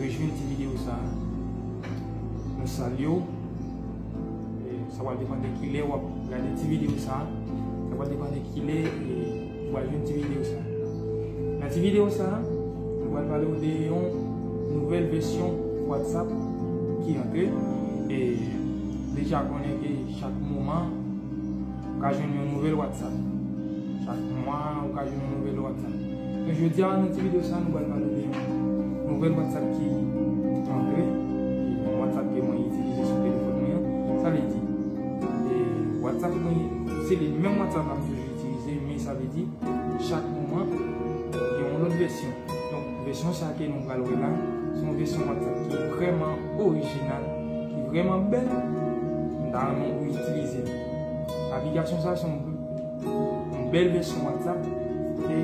Rejwenn ti video sa a. Mwen salye w. Sa pral depann de kilè wap gade ti video sa a. Sa pral depann de kilè ou pral jwenn ti video sa a. Nan ti video sa a, mwen pral pale w de yon nouvèl vèsyon WhatsApp ki antre. E deja konnen ke chak moman ou ka jwenn yon nouvèl WhatsApp. Chak mwa ou ka jwenn yon nouvèl WhatsApp. Bon jodia nan ti video sa nou pral pale de yon nouvèl WhatsApp ki antre, yon WhatsApp ke mwen itilize sou telefòn mwen an, sa vle di WhatsApp mwen se li menm WhatsApp la m toujou itilize men sa vle di chak moman gen yon lòt vèsyon. Donk vèsyon sa ke nou pral wè la se yon vèsyon WhatsApp ki vrèman orijinal, ki vrèman bèl, m ta renmen ou itilize li. Aplikasyon sa se yon. Yon bèl vèsyon whatsapp e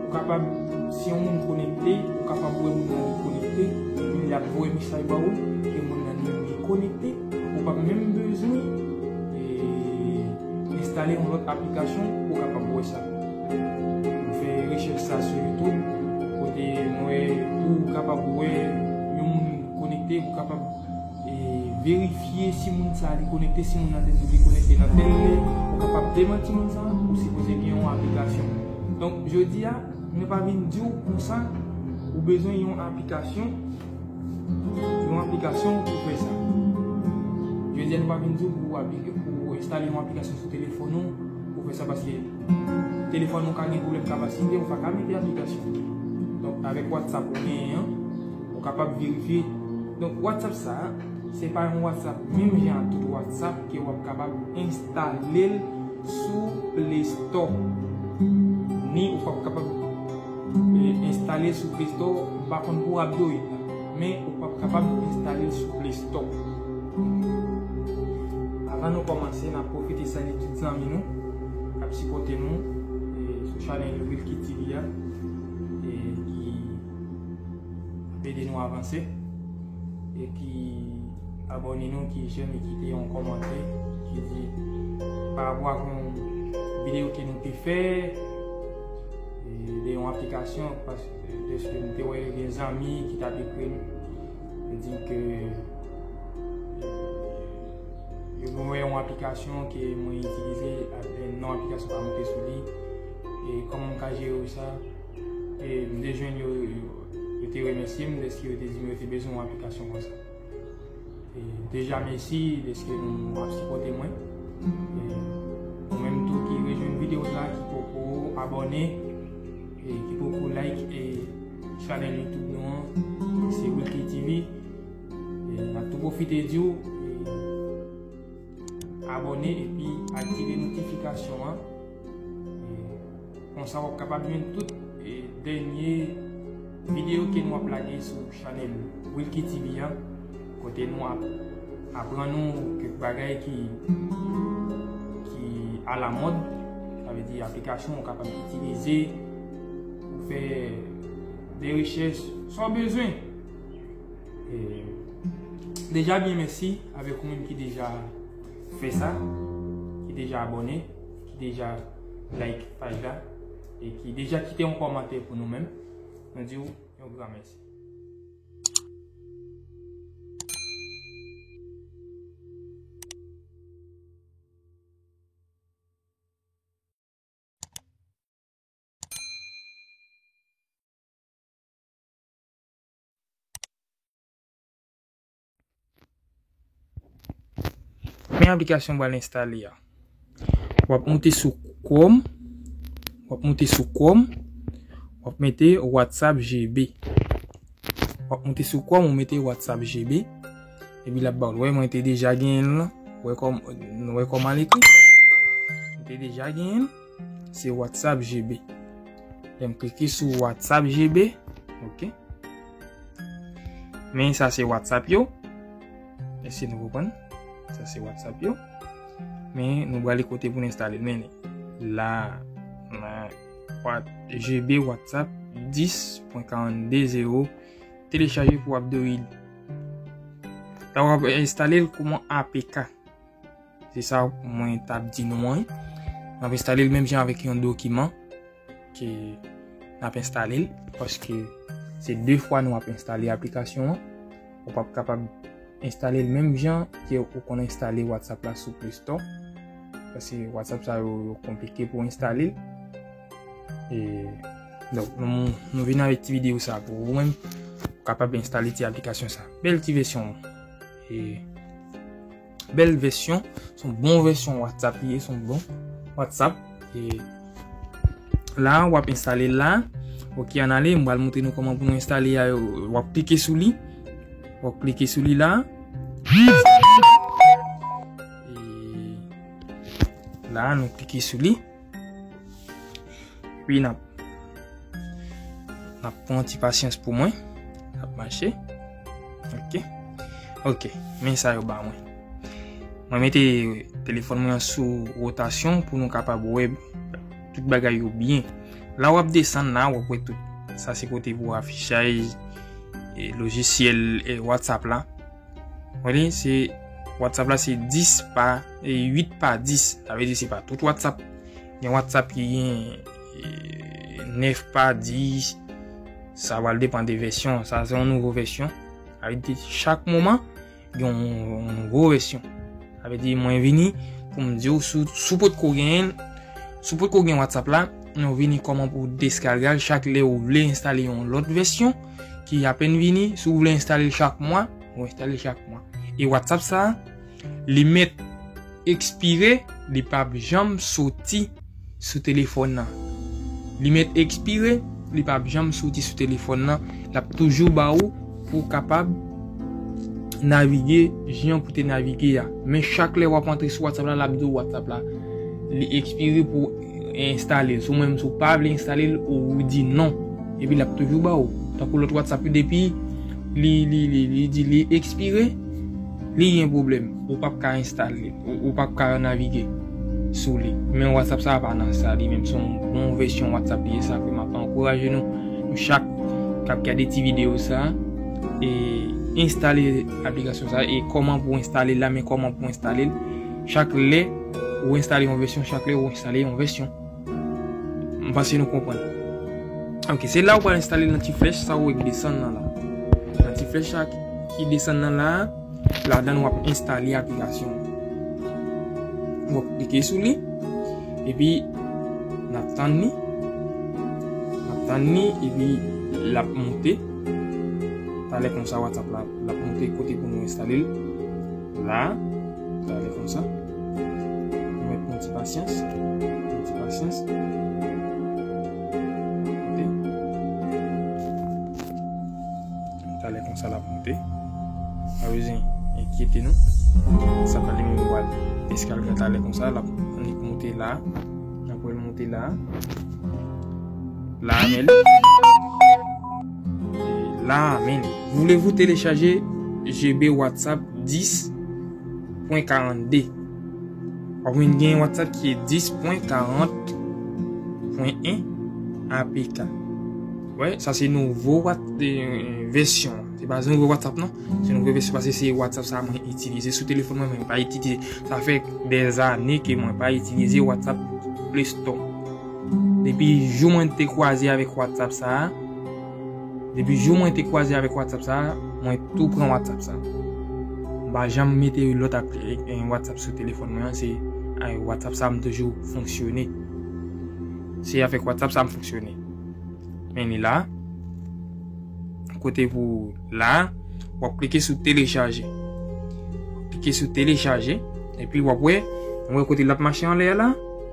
ou kapab si yon moun konekte ou kapab wè moun nan konekte epi lap voye mesaj ba ou ke moun nan li konekte ou pap menm bezwen enstale yon lòt aplikasyon ou kapab wè sa mwen fè rechèch sa sou youtube kote mwen wè ou kapab wè yon moun konekte ou kapab Verifye si moun sa li konekte si moun nan te di li konekte nan tel lè ou kapab demanti moun sa ou sipoze gen yon aplikasyon donk jodi a mwen pa vin diw konsa ou bezwen yon aplikasyon yon aplikasyon pou fè sa jodi a mwen pa vin diw pou aplikasyon pou enstale yon aplikasyon sou telefòn ou pou fè sa paske telefòn ou ka gen pwoblèm kapasite ou pa ka mete aplikasyon donk avèk whatsapp ou genyen an Ou kapab verifye. Donk WhatsApp sa a, se pa yon WhatsApp menm jan ak tout WhatsApp ke wap kapab enstale l sou Play Store. Ni ou pap kapab enstale l sou Play Store, m pa konn pou Abdoid la. Men ou pap kapab enstale l sou Play Store. Avan nou kòmanse, nap pwofite salye tout zanmi nou kap sipòte nou sou chanèl Wilky TV a. Ede nou avanse epi abone nou ki jem e kite yon komante ki di pa rapò ak yon video ke nou te fè de yon aplikasyon deske nou te wè gen zanmi ki ta te krim e di ke yo mwen yon aplikasyon ke mwen itilize ak nan aplikasyon pa mwen te sou li e koman mwen ka jere ou sa. E m te jwenn yo, yo te remèsye m dèske yo te di m yo te bezwen yon aplikasyon konsa. E deja mèsi dèske nou ap sipòte mwen. E ou menm tou ki rejwenn videyo sa, ki poko abòne, e ki poko like e chanèl YouTube nou an, se Wilky TV. E m ap tou pwofite di w, abòne epi aktive notifikasyon an. Konsa wap kapab jwenn tout dènye videyo ke nou ap lage sou chanèl Wilky TV an kote nou ap aprann nou kèk bagay ki alamòd sa vle di aplikasyon wap kapab itilize pou fè de rechèch sa w bezwen Deja byen mèsi avèk ou menm ki deja fè sa ki deja abòne ki deja like paj la e ki deja kite yon kòmantè pou nou menm, nou di ou yon gran mèsi. Men aplikasyon bal enstale ya. Wap moute sou Chrome. Wap moute sou Chrome. Wap mete WhatsApp GB. Wap moute sou Chrome. Wap mete WhatsApp GB. Ebi la bal. Wè mwen te deja gen la. Wè kòm. Wè kòm an ekri. Mwen te deja gen. Se WhatsApp GB. Mwen klike sou WhatsApp GB. Ok. Men sa se WhatsApp yo. Ese nou repon. Sa se WhatsApp yo. Men nou wale kote pou n'instale. Men la. GB WhatsApp 10.420. Telechaje pou Abdorid. Sa wale installe kouman APK. Se sa mwen tap di nou an. N ap enstale l menm jan avèk yon dokiman ke n ap enstale l. Paske se 2 fwa nou ap enstale aplikasyon an. Ou pap kapab enstale l menm jan ke ou konn enstale WhatsApp la sou Play Store. Paske WhatsApp sa yo yo konplike pou enstale l. E donk nou vin avèk ti videyo sa pou ou menm. Ou kapab enstale ti aplikasyon sa. Bèl ti vèsyon. E. Bèl vèsyon, son bon vèsyon WhatsApp li ye, son bon WhatsApp. La, wap installe la. Ok, an ale, mwen al moutre nou koman pou nou installe ya. Wap klike sou li. Wap klike sou li la. La, nou klike sou li. Wi nap Nap pran ti pasyans pou mwen Nap mache Ok Ok Men sa yo ba mwen Mwen mete telefon mwen sou rotasyon pou nou kapab wè tout bagay yo byen La wap desan la wap wè tout Sa se kote pou afichay Logisyel whatsapp la Wè se WhatsApp la se 10 pa 8 pa 10. Ta vle di se pa tout WhatsApp. Gen WhatsApp ki gen 9 pa 10. Sa wale depan de vèsyon. Sa se yon nouvo vèsyon. Ta vle di chak moman gen yon nouvo vèsyon. Ta vle di mwen vini pou m di ou sou pot ko gen sou pot ko gen WhatsApp la. Nou vini koman pou deskargal chak le ou vle installe yon lot vèsyon. ki apen vini, si ou vle enstale l chak mwa, ou enstale l chak mwa. E WhatsApp sa, li met ekspire, li pa ap janm soti sou telefon nan. Li met ekspire, li pa ap janm soti sou telefon nan, l ap toujou ba ou pou kapab navige jan pou te navige a. Men chak lè w ap antre sou WhatsApp la, l ap di ou WhatsApp la li ekspire pou ou. Enstale l sou mwen menm si w pa vle enstale l ou di non epi l ap toujou ba w tankou lòt whatsapp yo depi li di li ekspire li gen pwoblèm ou pap ka enstale ou pap ka navige sou li men whatsapp sa pa nan sa li menm se yon bon vèsyon whatsapp li ye sa fè m ap ankouraje nou nou chak k ap gade ti videyo sa enstale aplikasyon sa e kòman pou enstale l la men kòman pou enstale l Chak lè ou enstale yon vèsyon chak lè ou enstale yon vèsyon. M panse nou konprann. Ok, se la ou pral enstale l nan ti flèch sa ou wè ki desann nan la. Nan ti flèch sa ki desann nan la, ladan wap enstale aplikasyon an. Wap klike sou li, epi nap tann li, nap tann li, epi lap monte. Talè konsa WhatsApp la ap monte kote pou nou enstale l. La, la ale konsa. Nou met yon ti pasyans. Yon ti pasyans. Monte. Ta ale konsa la monte. A vezin, enkyete nou. Sa pa li mou wad. Eskal gen ta ale konsa la. An li monte la. An pou el monte la. La amel. La a menm. Voulez-vous télécharger GB WhatsApp 10.42? Wap jwenn gen WhatsApp ki e 10.40.1 APK. Wè, sa se nouvo vèsyon. Se pa se nouvo WhatsApp non. Se nouvo vèsyon pase se WhatsApp sa mwen itilize sou telefon mwen mwen pa itilize. Sa fè 2 ane ke mwen pa itilize WhatsApp Play Store. Depi jou mwen te kwaze avèk WhatsApp sa a, depi jou mwen te kwaze avèk WhatsApp sa a, mwen tou pran WhatsApp sa. M pa janm mete yon lòt WhatsApp sou telefòn mwen an, se avèk WhatsApp sa a m toujou fonksyone. Se avèk WhatsApp sa a m fonksyone. Men li la, kote pou la, w ap klike sou telechaje. Klike sou telechaje, epi w ap wè, mwen wè kote l ap mache anlè a la.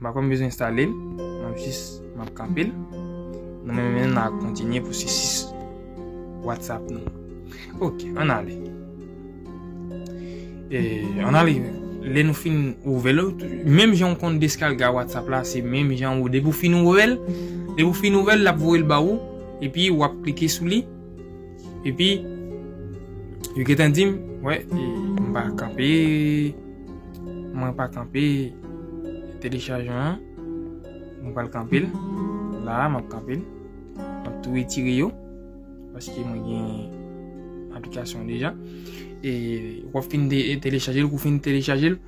M pa konn bezwen enstale l. M ap jis, m ap kanpe l. Nou menm menm nan ap kontinye pwosesis WhatsApp nou an. Ok, ann ale. E, ann ale, lè nou fin ouvè l, menm jan ou konn deskalga WhatsApp la, se menm jan ou, depi ou fin ouvè l, depi ou fin ouvè l, l ap voye l ba ou, epi ou ap klike sou li. Epi, yo gentan di m, wè, e, m pa kanpe, mwen pa kanpe telechajan an, m pa l kanpe l, la a m ap kanpe l, m ap tou etire yo, paske mwen gen aplikasyon deja, e, w ap fin telechaje l, kou fin telechaje l,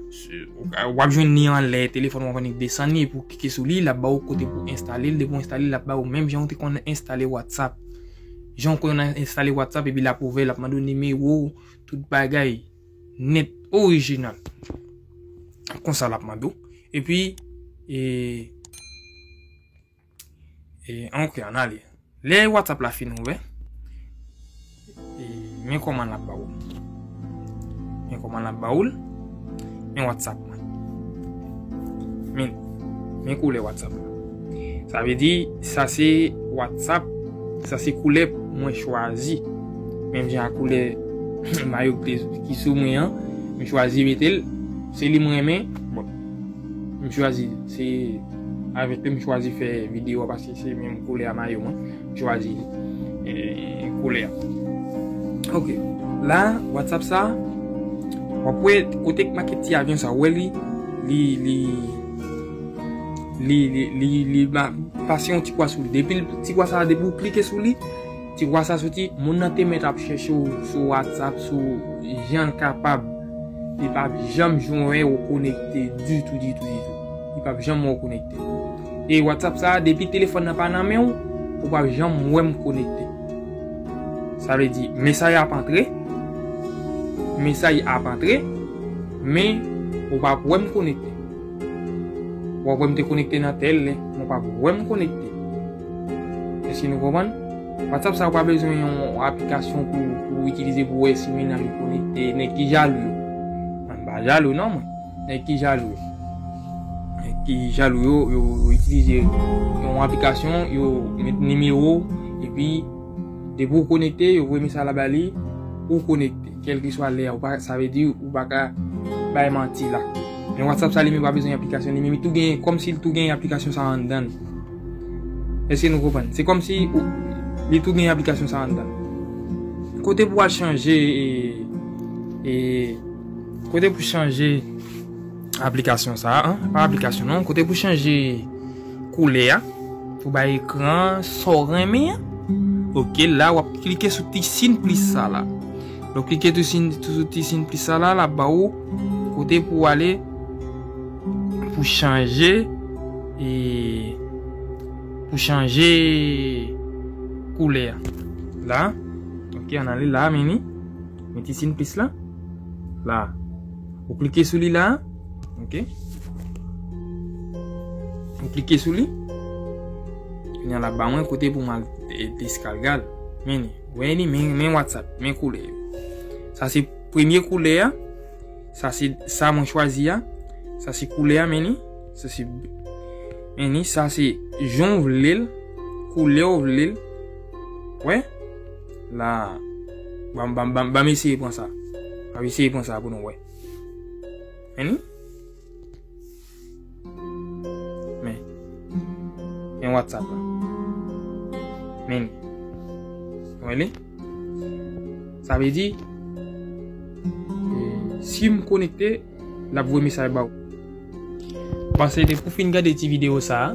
w ap jwenn ni an lè, telefon w ap annik desan ni, pou kike sou li, l ap ba w kote pou enstale l, depi w enstale l, l ap ba w menm jan w te konn enstale WhatsApp. Jan w konnen nan enstale WhatsApp epi l ap ouvè, l ap mande w nimewo w, tout bagay nèt orijinal. Konsa l ap mande w. Epi, e, e, an ok an ale. Lè WhatsApp la fin ouvè, e, men kòman l ap ba w. Men koman lap ba oul. Men WhatsApp mwen. Men. Men koule WhatsApp mwen. Sa ve di, sa se WhatsApp, sa se koule mwen chwazi. Men mwen a koule mayo ki sou mwen an. Mwen chwazi metel. Se li mwen men. Bon. Mwen chwazi. Se. Avek mwen chwazi fe video. Pase se mwen koule a mayo mwen. Chwazi koulè. Ok. La, WhatsApp sa. Wap wè kote k make ti avyon sa. Wè li. Li, li. Li, li, li, li. Ba, pase yon ti kwa sou li. Depi l, ti kwa sa, depi w klike sou li. Ti kwa sa soti. Moun nan te met ap chèche w sou WhatsApp. Sou jan l kapab. Li pap janm jwenn wè w konekte. Ditou, ditou, ditou. Li pap janm wè w konekte. E WhatsApp sa depi telefòn nan pa nan menw ou pap janm wèm konekte. Sa vle di mesay ap antre, mesay ap antre men ou pap wèm konekte. Wap wèm te konekte nan tèl lè men ou pap wèm konekte. Eske nou konprann? WhatsApp sa ou pa bezwen yon aplikasyon pou itilize pou wè si menaj ou konekte. Nèg ki jalou yo. Mwen pa jalou non mwen. Nèg ki jalou yo Nèg ki jalou yo, yo itilize yon aplikasyon, yo met nimewo ou, epi depi ou konekte, yo voye mesaj la ba li, ou konekte. Kèlke swa lè a, sa vle di ou pa ka bay manti la. Men WhatsApp sa li menm pa bezwen aplikasyon, li menm li tou gen, kòm si li tou gen aplikasyon sa anndan l. Èske nou konprann? Se kòm si ou, li tou gen aplikasyon sa anndan l. Kote pou al chanje e, e. Kote pou chanje aplikasyon sa a, pa aplikasyon non, kote pou chanje koulè a, pou bay ekran so renmen an, ok, la wap klike sou ti sin plis sa la, lò klike sou ti sin plis sa la, la ba ou, kote pou ale, pou chanje, e, pou chanje koulè a, la, ok, an ale la, meni. Men ti sin plis la. La. Ou klike sou li la. Ok. Ou klike sou li. Yon la ba mwen kote pou mal deskalgal. Men ni. Wey ni men WhatsApp. Men koule. Sa se premye koule ya. Sa se sa mwen chwazi ya. Sa se koule ya men ni. Sa se. Men ni. Sa se. Jon vle. Koule ou vle. Wey. La. Bam, bam, bam, bam eseye pran sa. Bam eseye pran sa pou nou wè. Meni. Men. Men WhatsApp la. Meni. Mwen li. Sa ve di. Si m konekte, l ap vwe mesaj ba ou. Pase de pou fin gade ti video sa.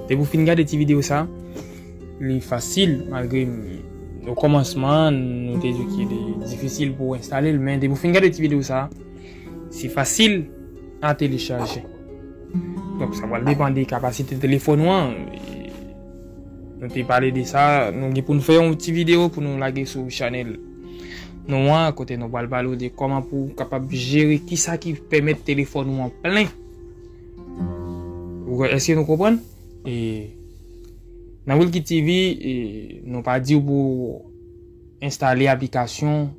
De pou fin gade ti video sa. Li fasil malgre o kòmansman nou te di ki li difisil pou enstale l men depi w fin gade ti video sa se fasil a telechaje. Donk sa pral depan de kapasite telefòn ou an. Nou te pale de sa, nou gen pou nou fè yon ti video pou nou lage sou chanèl nou an kote nou pral pale w de kòman pou w kapab jere ki sa ki pèmèt telefòn ou an plen. Eske nou konprann? E. Nan Wilky TV, nou pa diw pou enstale aplikasyon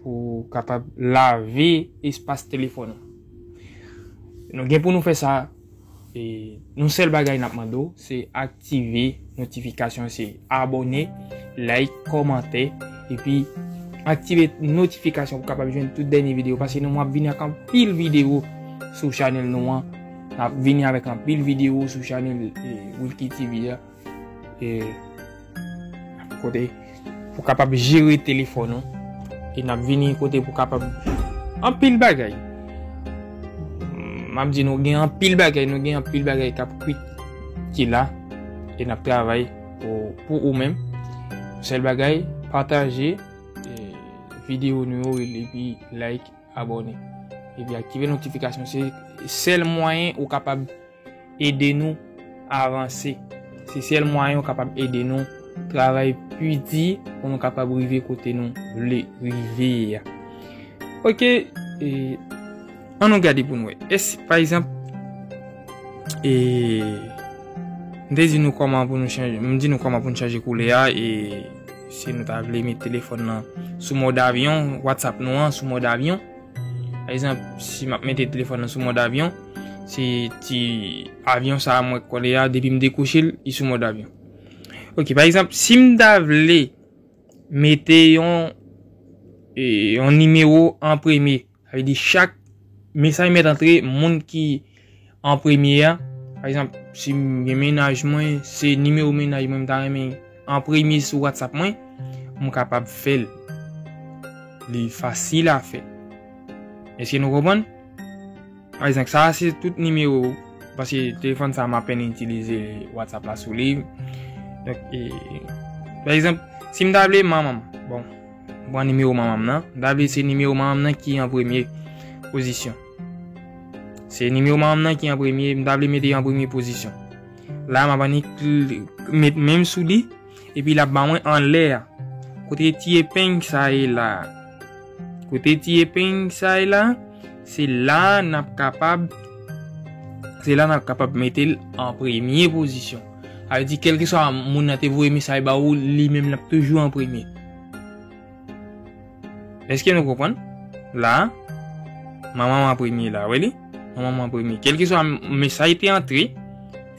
pou kapab lave espas telefòn ou. Nou gen pou nou fè sa, yon sèl bagay nap mande w, se aktive notifikasyon se abone, like, komante, epi aktive notifikasyon pou kapab jwenn tout dènye videyo, pase nou map vini ak anpil videyo sou chanèl nou an. Nap vini avèk anpil video sou chanèl Wilky TV a. E kote pou kapab jere telefon ou. E nap vini kote pou kapab anpil bagay. Map di nou gen anpil bagay, nou gen anpil bagay kap kwit ki la. E nap travay pou ou menm. Sèl bagay, pataje video nou yo e like. Abòne epi aktive notifikasyon se sèl mwayen ou kapab ede nou avanse. Se sèl mwayen ou kapab ede nou travay pi di pou nou kapab rive kote nou vle rive ya. Ok, e, an nou gade pou nou e. Es, pa egzanp, e, m de di nou koman pou nou chanje, m di nou koman pou nou chanje koule ya e. Si nou ta vle met telefòn nan sou mòd avyon, WhatsApp nou an sou mòd avyon. Pa egzanp, si map mete telefòn nan sou mòd avyon, se ti avyon sa mwen kole a, depi m dekwoche l, li sou mòd avyon. Ok, pa egzanp, si m ta vle mete yon e, yon nimewo an premye. Sa vle di chak mesaj mèt antre moun ki an premye a. Pa egzanp, si m gen menaj mwen, se nimewo menaj mwen m ta renmen an premye sou WhatsApp mwen, m kapab fè l. Li fasil a fè. Eske nou konprann? Pa egzanp, sa a se tout nimewo, paske telefòn sa a m apèn itilize WhatsApp la sou li. Pa egzanp, si m ta vle manman m, bon. M pran nimewo manman m nan. M ta vle se nimewo manman m nan ki an premye pozisyon. Se nimewo manman m nan ki an premye. M ta vle mete an premye pozisyon. La m ap annik met menm sou li. E pi l ap ba mwen anlè a. Kote ti epeng sa ye la. Kote ti epeng sa ye la. Se la n ap kapab. Se la n ap kapab mete l an premye pozisyon. Sa vle di kelkeswa moun nan te voye mesaj ba ou, li menm l ap toujou an premye. Eske nou konprann? La, manman m an premye la, wè li? Manman m an premye. Kelkeswa mesaj te antre,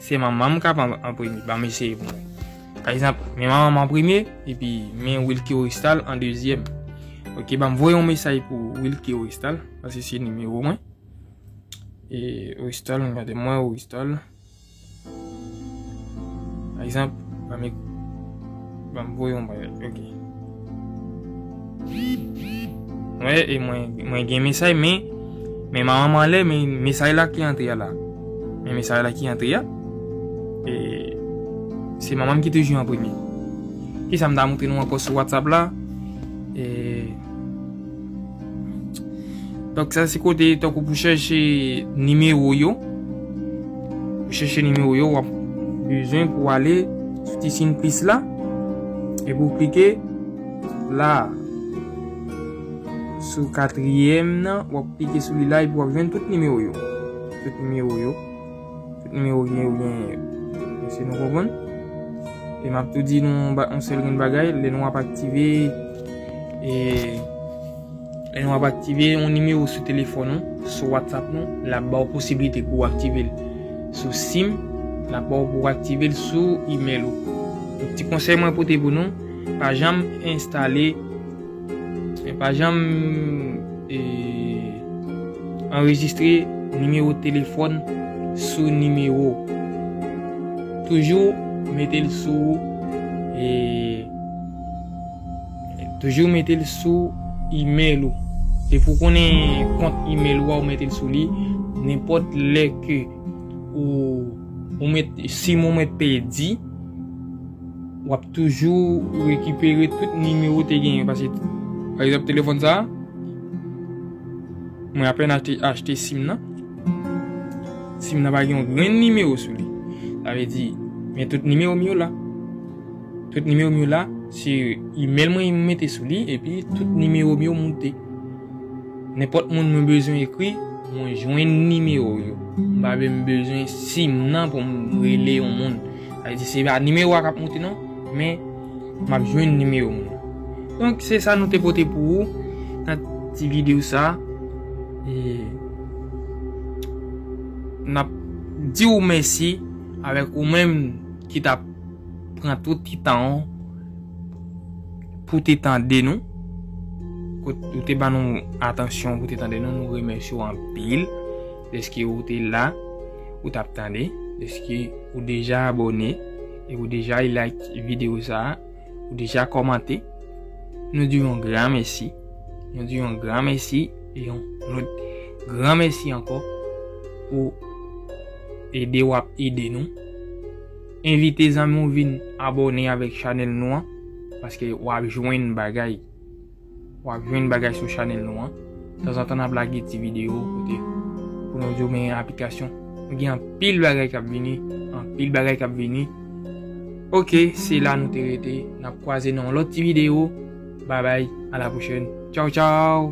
se manman m k ap an premye. Ba m eseye pou mwen. Pa egzanp, men manman m an premye, epi men Wilky Oristal an dezyèm. Ok, ba m voye yon mesaj pou Wilky Oristal, pase se nimewo mwen. E Oristal, gade mwen Oristal. Par exemple, mwen mèk mwen m voye yon bagay. Ok. Wè, e mwen mwen gen mesaj men men ma maman lè men mesaj la ki antre la. Men mesaj la ki antre ya. E se maman m ki toujou an premye. Ki sa m ta montre nou ankò sou WhatsApp la? E Donk sa se kote tankou pou chèche nimewo yo. Pou chèche nimewo yo wap bezwen pou ale sou ti sin plis la. E pou klike la. Sou katriyèm nan wap klike sou li la e pou wap jwenn tout nimewo yo. Tout nimewo yo. Tout nimewo gen yo gen mesye nou konprann. E map tou di nou yon sèl grenn bagay, lè nou ap aktive e lè nou ap aktive yon nimewo sou telefòn nou, sou WhatsApp nou, lap ba ou posibilite pou ou aktive l sou sim, lap ba ou pou ou aktive l sou email ou. Ti konsèy mwen pote pou nou, pa janm enstale Mwen pa janm anrejistre nimewo telefòn sou nimewo. Toujou mete l sou toujou mete l sou email ou. Depi w konnen kont email ou a ou mete l sou li, nenpòt lè ke ou met sim ou met pèdi. Wap toujou rekipere tout nimewo ou te genyen. Pase, pa egzanp telefon sa. Mwen apen achte sim nan. Sim nan pa gen yon gren nimewo sou li. A ve di, men tout nimewo mi yo la. Tout nimewo mi yo la, se email mwen yon mete sou li, e pi tout nimewo mi yo moute. Nen pot moun mwen bezwen ekri, mwen jwen nimewo yo. Mwen pa mwen bezwen sim nan pou mwen rele yon moun. Sa vle di se pa nimewo a kap monte non, men map jwenn nimewo moun nan. Donk se sa nou te pote pou ou nan ti video sa. E nap di ou mèsi avèk ou menm ki tap pran tout ti tan ou pou te tande nou. Ou te ban nou atansyon pou te tande nou, nou remèsye ou anpil. Deske ou te la, ou tap tande, deske ou deja abone, e ou deja like video sa, ou deja komante, nou di yon gran mesi, nou di yon gran mesi, e yon gran mesi anko, pou ede wap ede nou. Envite zanmi ou vin abone avek chanel nou an, paske wap jwen bagay. Wap jwenn bagay sou chanel nou an. Tanzantan nap lage ti video kote pou nou diw men aplikasyon. Nou gen anpil bagay kap vini, anpil bagay kap vini. Ok se la nou te rete. Nap kwaze nan yon lòt ti video. Babay a la pwochèn. Tchaw tchaw.